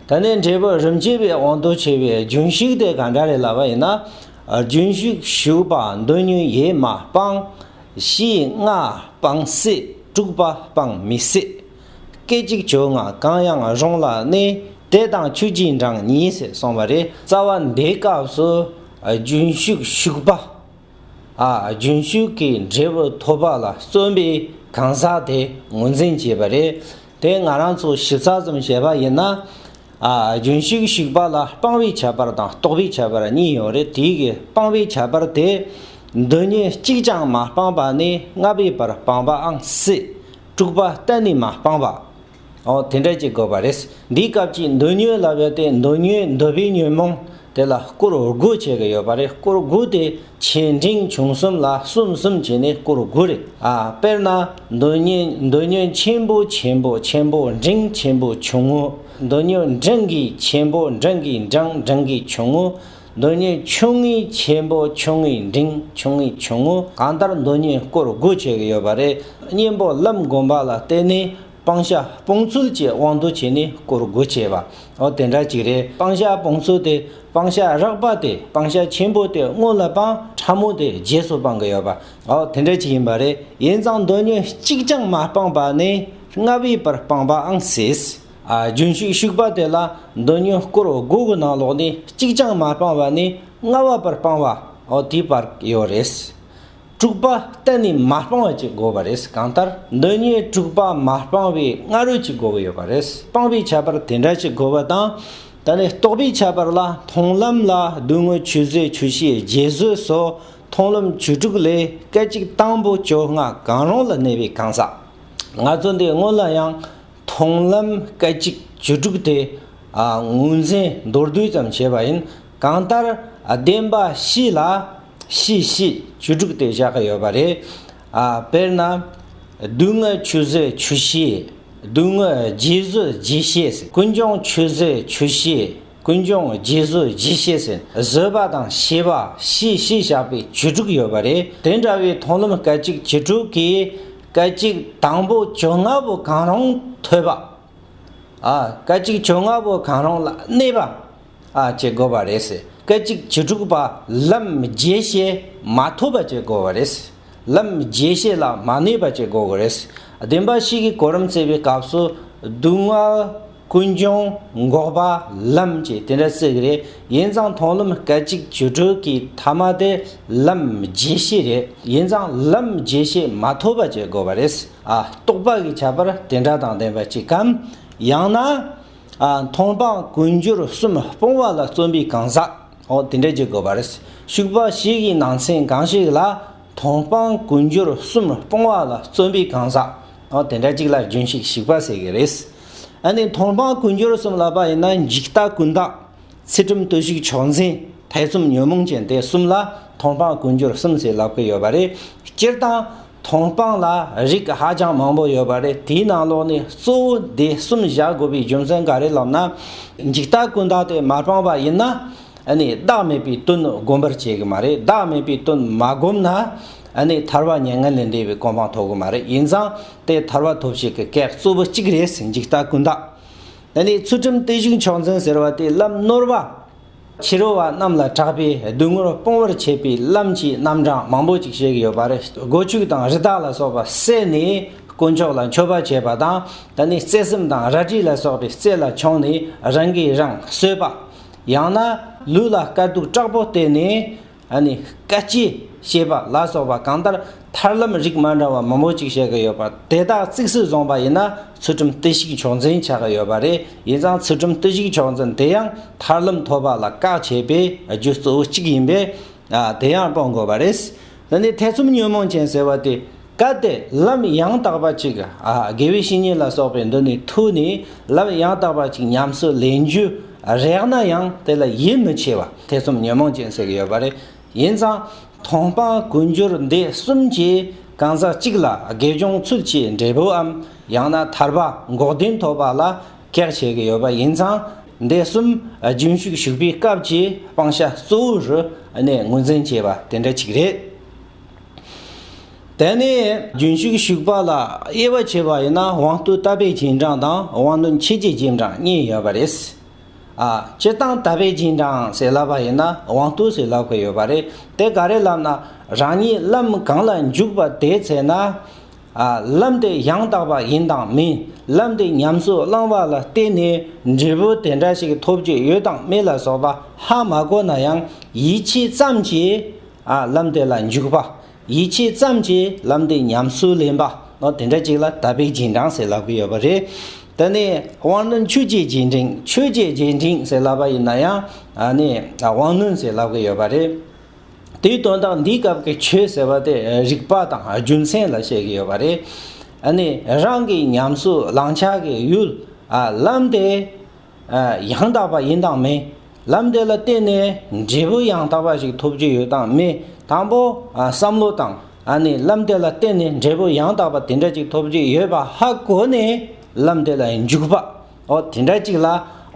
ད་ནི་འབྲས་བུ་རིམ་གྱིས་པའི་དབང་དུ་བྱས་པའི་རྒྱུན་ཞུགས་དེ་གང་འདྲ་རེད་ལབ་པ་ཡིན་ན། རྒྱུན་ཞུགས་ཞུགས་པ་འདོད་ཉོན་ཡས་མ་སྤངས། བཞི་ལྔ་སྤངས་སྲིད་དྲུག་པ་སྤངས་མི་སྲིད། སྐད་ཅིག་བྱུང་ངང་གང་ཡང་རུང་ལ་གནས་དེ་དང་ཆུ་གཅིག་འགྲངས་གཉིས་ཟེར་གསུངས་པ་རེད། རྩ་བ་འདིའི་སྐབས་སུ་རྒྱུན་ཞུགས་ཞུགས་པ། རྒྱུན་ཞུགས་ཀྱི་འབྲས་བུ་ཐོབ་པ་ལ་བརྩོན་པའི་གང་ཟག་དེ་ངོས་འཛིན་བྱས་པ་རེད། དེ་ང་རང་ཚོ་ཞིབ་ཚགས་ཙམ་བྱས་པ་ཡིན་ན། རྒྱུན་ཞིག་བཤིག་པ་ལ་དཔང་བའི་ཁྱད་པར་དང་རྟོགས་པའི་ཁྱད་པར་གཉིས་ཡོད་རེད་དེ་གའི་དཔང་བའི་ཁྱད་པར་དེ། འདི་གཉིས་གཅིག་ཀྱང་མ་སྤངས་པ་ནས་ལྔ་པའི་བར་སྤངས་པའང་སྲིད། དྲུག་པ་གཏན་ནས་མ་སྤངས་པ། འོ་དེ་འདྲ་བྱེད་དགོས་པ་རེད། འདིའི་སྐབས་ཀྱི་འདོད་ཉོན་ལ་བལྟས་འདོད་ཉོན་འདོད་པའི་ཉོན་མོངས། དེ་ལ་སྐོར་དགུ་བྱེད་ཀྱི་ཡོད་པ་རེད་སྐོར་དགུ་དེ་ཆེ་འབྲིང་ཆུང་གསུམ་ལ་གསུམ་གསུམ་བྱས་ནས་སྐོར་དགུ་རེད་ཨ། དཔེར་ན། འདོད་ཉོན་འདོད་ཉོན་ཆེན་པོ་ཆེན་པོ་ཆེན་པོ་འབྲིང་ཆེན་པོ་ཆུང་ངུ། འདོད་ཉོན་འབྲིང་གི་ཆེན་པོ་འབྲིང་གི་འབྲིང་འབྲིང་གི་ཆུང་ངུ། འདོད་ཉོན་ཆུང་ངུའི་ཆེན་པོ་ཆུང་ངུའི་འབྲིང་ཆུང་ངུའི་ཆུང་ངུ་གང་ལྟར་འདོད་ཉོན་སྐོར་དགུ་བྱེད་ཀྱི་ཡོད་པ་རེད། གཉེན་པོ་ལམ་སྒོམ་པ་ལ་བརྟེན་ནས་སྤང་བྱ་སྤོང་ཚུལ་གྱི་དབང་དུ་བྱས་ནས་བསྐོར་དགོས་བྱས་པ། འོ་དེ་འདྲ་ཅིག་རེད་སྤང་བྱ་སྤོང་ཚུལ་དེ་སྤང་བྱ་རགས་པ་དེ་སྤང་བྱ་ཆེན་པོ་དེ་སྔོན་ལ་སྤང་ཕྲ་མོ་དེ་རྗེས་སུ་སྤང་གི་ཡོད་པ། འོ་དེ་འདྲ་ཅིག་ཡིན་པ་རེད་ཡིན་ཙང་འདོད་ཉོན་གཅིག་ཀྱང་མ་སྤངས་པ་ནི་ལྔ་བའི་བར་སྤངས་པའང་སྲིད། རྒྱུན་ཞུགས་ཞུགས་པ་དེ་ལ་འདོད་ཉོན་བསྐོར་དགོས་གི་ནང་ལོགས་ནས་གཅིག་ཀྱང་མ་སྤངས་པ་ནི་ལྔ་བ་བར་སྤངས་བ་འོ་དེའི་བར་ཡོད་རེད། དྲུག་པ་གཏན་ནས་མ་སྤང་བ་གཅིག་དགོས་པ་རེད་གང་ལྟར་འདི་གཉིས་དྲུག་པ་མ་སྤང་བའི་སྔ་རོལ་གྱི་དགོས་ཀྱི་ཡོད་པ་རེད་སྤང་བའི་ཁྱད་པར་དེ་འདྲ་གཅིག་དགོས་པ་དང། ད་ནི་རྟོགས་པའི་ཁྱད་པར་ལ་མཐོང་ལམ་ལ་བསྡུ་དངོས་ཆུད་ཟོས་ཆུད་ཤེས་རྗེས་བཟོད་སོགས་མཐོང་ལམ་བཅུ་དྲུག་ལས་སྐད་ཅིག་དང་པོ་བཅོ་ལྔ་གང་རུང་ལ་གནས་པའི་གང་ཟག་ང་ཚོ་འདི་སྔོན་ལ་ཡང་མཐོང་ལམ་སྐད་ཅིག་བཅུ་དྲུག་དེ་ངོས་འཛིན་མདོར་བསྡུས་ཙམ་བྱས་པ་ཡིན་གང་ལྟར་བདེན་པ་བཞི་ལ། ཤིས་ཤིས་བཅུ་དྲུག་དེ་བཞག་གི་ཡོད་པ་རེད། དཔེར་ན། བསྡུ་དངོས་ཆུད་ཟོས་ཆུ་བཤིས། བསྡུ་དངོས་རྗེས་བཟོས་རྗེས་བཤིས། ཀུན་འབྱུང་ཆུད་ཟོས་ཆུ་བཤིས། ཀུན་འབྱུང་རྗེས་བཟོས་རྗེས་བཤིས། བཟོས་པ་དང་བཤིས་པ་ཤིས་ཤིས་བཞག་པའི་བཅུ་དྲུག་ཡོད་པ་རེད། དེ་འདྲ་བའི་མཐོང་ལམ་སྐད་ཅིག་བཅུ་དྲུག་གིས་སྐད་ཅིག་དང་པོ་བཅོ་ལྔ་པོ་གང་རུང་ཐོས་པ། སྐད་ཅིག་བཅོ་ལྔ་པོ་གང་རུང་ལ་གནས་པ། བྱེད་དགོས་པ་རེད། སྐད་ཅིག་བྱེ་དྲུག་པ་ལམ་རྗེས་ཤེས་མ་ཐོབ་པ་བྱེད་དགོས་པ་རེད། ལམ་རྗེས་ཤེས་ལ་མ་གནས་པ་བྱེད་དགོས་རེད། བདེན་པ་གཤིས་ཀྱི་གོ་རིམ་བརྩེགས་པའི་སྐབས་སུ་སྡུག་བསྔལ་ཀུན་འབྱུང་འགོག་པ་ལམ་གྱི་དེ་འདྲ་བརྩེགས་རེད། ཡིན་ཙང་མཐོང་ལམ་སྐད་ཅིག་བྱེ་དྲུག་གི་ཐ་མ་དེ་ལམ་རྗེས་ཤེས་རེད། ཡིན་ཙང་ལམ་རྗེས་ཤེས་མ་ཐོབ་པ་བྱེད་དགོས་པ་རེད། རྟོགས་པ་གི་ཁྱད་པར་དེ་འདྲ་དང་ལྡན་པ་གཅིག་གམ། ཡང་ན། མཐོང་སྤང་ཀུན་སྦྱོར་གསུམ་སྤོང་བ་ལ་བརྩོན་པའི་གང་ཟག་འོ་དེ་འདྲས་ཀྱི་དགོས་པ་རེད། ཞུགས་པ་ཞིག་གི་ནང་ཚན་གང་ཞིག་ལ་མཐོང་སྤང་ཀུན་སྦྱོར་གསུམ་སྤོང་བ་ལ་བརྩོན་པའི་གང་ཟག་འོ་དེ་འདྲ་གཅིག་ལ་རྒྱུན་ཞིག་ཞིག་པ་ཟེར་གྱི་རེད། ཨ་ནི་མཐོང་སྤང་ཀུན་སྦྱོར་གསུམ་ལ་པ་ཡིན་ན་འཇིག་ལྟ་ཀུན་བརྟགས། ཚེ་གྲུབ་ལྟོས་ཤིག་ཕྱོགས་འཛིན་ཐེ་ཚོམ་ཉོན་མོངས་ཅན་དེ་གསུམ་ལ་མཐོང་སྤང་ཀུན་སྦྱོར་གསུམ་ཟེར་ལབ་ཀྱི་ཡོད་པ་རེད། སྤྱིར་བཏང། མཐོང་སྤང་ལ་རིགས་ཧ་ཅང་མང་པོ་ཡོད་པ་རེད་དེའི་ནང་ལོགས་ནས་གཙོ་བོ་དེ་གསུམ་བཞག་དགོས་པའི་རྒྱུ་མཚན་ག་རེ་ལབ་ན། འཇིག་ལྟ་ཀུན་བརྟགས་དེ་མ་སྤངས་པ་ཡིན་ན། ནི་བདག་མེད་པའི་དོན་སྒོམ་པར་བྱེད་གི་མ་རེད་བདག་མེད་པའི་དོན་མ་སྒོམ་ན། ནི་ཐར་བ་མྱ་ངན་ལས་འདས་པའི་གོ་འཕང་ཐོབ་གི་མ་རེད་ཡིན་ཙང་དེ་ཐར་བ་ཐོབ་བྱེད་ཀྱི་སྐད་གཙོ་བོ་གཅིག་རེད་འཇིག་ལྟ་ཀུན་བརྟགས། ནི་ཚུལ་ཁྲིམས་རྟེན་བཞུགས་མཆོག་འཛིན་ཟེར་བ་དེ་ལམ་ནོར་བ། ཕྱི་རོལ་བ་རྣམས་ལ་གྲགས་པའི་སྡུག་བསྔལ་སྤོང་བར་བྱེད་པའི་ལམ་གྱི་རྣམ་གྲངས་མང་པོ་ཅིག་བཤད་ཀྱི་ཡོད་པ་རེད། སྒོ་ཕྱུགས་དང་རི་དྭགས་ལ་སོགས་པ་བསད་ནས་དཀོན་མཆོག་ལ་མཆོད་པ་བྱེད་པ་དང། ད་ནི་བརྩེ་སེམས་དང་རལ་གྲི་ལ་སོགས་པའི་རྩེ་ལ་མཆོངས་ནས་རང་གིས་རང་གསོད་པ། ཡང་ན་ལུས་ལ་དཀའ་སྡུག་དྲག་པོ་བརྟེན་ནས་ཨ་ནི་སྐད་ཅིག་ཞེས་པ་ལ་སོགས་པ་གང་ལྟར་ཐར་ལམ་རིགས་མ་འདྲ་བ་མང་པོ་ཅིག་བཤད་ཀྱི་ཡོད་པ་དེ་དག་གཙིགས་སུ་བཟུང་བ་ཡིན་ན་ཚུལ་ཁྲིམས་བརྟུལ་ཞུགས་མཆོག་འཛིན་བྱ་གི་ཡོད་པ་རེད་ཡིན་ཙང་ཚུལ་ཁྲིམས་བརྟུལ་ཞུགས་མཆོག་འཛིན་དེ་ཡང་ཐར་ལམ་ཐོབ་པ་ལ་བཀག་བྱེད་པའི་རྒྱུ་གཙོ་བོ་གཅིག་ཡིན་པས་དེ་ཡང་སྤོང་དགོས་པ་རེད། འདི་ནས་ཐེ་ཚོམ་ཉོན་མོངས་ཅན་ཟེར་བ་དེ་བཀའ་སྟེ་ལམ་ཡང་དག་པ་གཅིག། དགེ་བའི་བཤེས་གཉེན་ལ་སོགས་པའི་འདི་ནི་ཐུགས་ནི་ལམ་ཡང་དག་པ་གཅིག་ཉམས་སུ་ལེན་རྒྱུ་རེག་ན་ཡང་དེ་ལ་ཡིད་མི་ཆེས་པ་ཐེ་ཚོམ་ཉོན་མོངས་ཅན་ཟེར་ཡོད་པ་རེད་ཡིན་ཙང་མཐོང་སྤང་ཀུན་སྦྱོར་འདི་གསུམ་གྱི་གང་ཟག་གཅིག་ལ་དགེ་སྦྱོང་ཚུལ་གྱི་འབྲས་བུའམ་ཡང་ན་ཐར་པ་འགོག་བདེན་ཐོབ་པ་ལ་གེགས་བྱེད་ཀྱི་ཡོད་པ་ཡིན་ཙང་འདི་གསུམ་རྒྱུན་ཞུགས་ཞུགས་པའི་སྐབས་ཀྱི་སྤང་བྱ་གཙོ་བོ་རུ་གནས་ངོས་འཛིན་བྱེད་པ་དེ་འདྲ་གཅིག་རེད། དེ་ནས་རྒྱུན་ཞུགས་ཞུགས་པ་ལ་དབྱེ་བ་ཕྱེ་བ་ཡིན་ན་དབང་རྟུལ་ལྟ་བས་རྗེས་འབྲང་དང་དབང་རྣོན་ཕྱེད་ཀྱི་རྗེས་འབྲང་གཉིས་ཡོད་པ་རེད། སྤྱི་བཏང་ལྟ་བས་རྗེས་འབྲང་ཟེར་སླ་བ་ཡིན་ན་དབང་རྟུལ་ཟེར་སླ་བ་ཡོད་པ་རེད། དེ་ག་རེ་ལབ་ན་རང་ཉིད་ལམ་གང་ལ་འཇུག་པ་དེའི་ཚེ་ན། ལམ་དེ་ཡང་དག་པ་ཡིན་དང་མིན་ལམ་དེ་ཉམས་སུ་བླང་བ་ལ་བརྟེན་ནས་འབྲས་བུ་དེ་འདྲ་ཞིག་ཐོབ་རྒྱུ་ཡོད་དང་མེད་ལ་སོགས་པ་ཧ་མ་གོ་ན་ཡང་ཡིད་ཆེས་ཙམ་གྱིས་ལམ་དེ་ལ་འཇུག་པ། ཡིད་ཆེས་ཙམ་གྱིས་ལམ་དེ་ཉམས་སུ་ལེན་པ། དེ་འདྲ་ཅིག་ལ་དད་པའི་རྗེས་འབྲང་ཟེར་ལབ་ཀྱི་ཡོད་པ་རེད། དེ་ནས་དབང་རྣོན་ཆོས་ཀྱི་རྗེས་འབྲིང། ཆོས་ཀྱི་རྗེས་འབྲིང་ཟེར་ལབ་པ་ཡིན་ན་ཡང། དབང་རྣོན་ཟེར་ལབ་ཀྱི་ཡོད་པ་རེད། དེའི་དོན་དག་འདིའི་སྐབས་ཀྱི་ཆོས་ཟེར་བ་དེ་རིགས་པ་དང་རྒྱུ་མཚན་ལ་བཤད་ཀྱི་ཡོད་པ་རེད། རང་གི་ཉམས་སུ་བླང་བྱ་གི་ཡུལ། ལམ་དེ། ཡང་དག་པ་ཡིན་དང་མིན། ལམ་དེ་ལ་བརྟེན་ནས་འབྲས་བུ་ཡང་དག་པ་ཞིག་ཐོབ་ཀྱི་ཡོད་དང་མེད། དང་པོ། བསམ་བློ་དང། ལམ་དེ་ལ་བརྟེན་ནས་འབྲས་བུ་ཡང་དག་པ་དེ་འདྲ་ཅིག་ཐོབ་ཀྱི་ཡོད་པ་ཧ་གོ་ནས་ལམ་དེ་ལ་འཇུག་པ། འོ་དེ་འདྲ་ཅིག་ལ་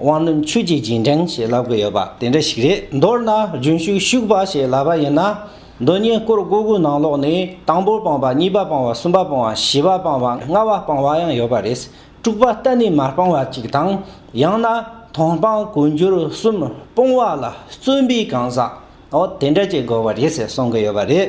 དབང་རྣོན་ཆོས་ཀྱི་རྗེས་འབྲེང་ཞེས་ལབ་ཀྱི་ཡོད་པ་དེ་འདྲ་ཞིག་རེད། མདོར་ན་རྒྱུན་ཞུགས་ཞུགས་པ་ཞེས་ལབ་པ་ཡིན་ན། མདོ་གཉིས་སྐོར་དགུ་དགུ་ནང་ལོགས་ནས་དང་པོ་སྤངས་པ་གཉིས་པ་སྤངས་བ་གསུམ་པ་སྤངས་བ་བཞི་པ་སྤངས་བ་ལྔ་བ་སྤངས་བ་ཡང་ཡོད་པ་རེད། དཀྲུགས་པ་གཏན་ནས་མ་སྤང་བ་གཅིག་དང། ཡང་ན་མཐོང་སྤང་གོ་འགྱུར་གསུམ་སྤོང་བ་ལ་བརྩོན་པའི་གང་ཟག་འོ་དེ་འདྲ་བྱེད་དགོས་པ་རེད་ཟེར་གསུང་གི་ཡོད་པ་རེད།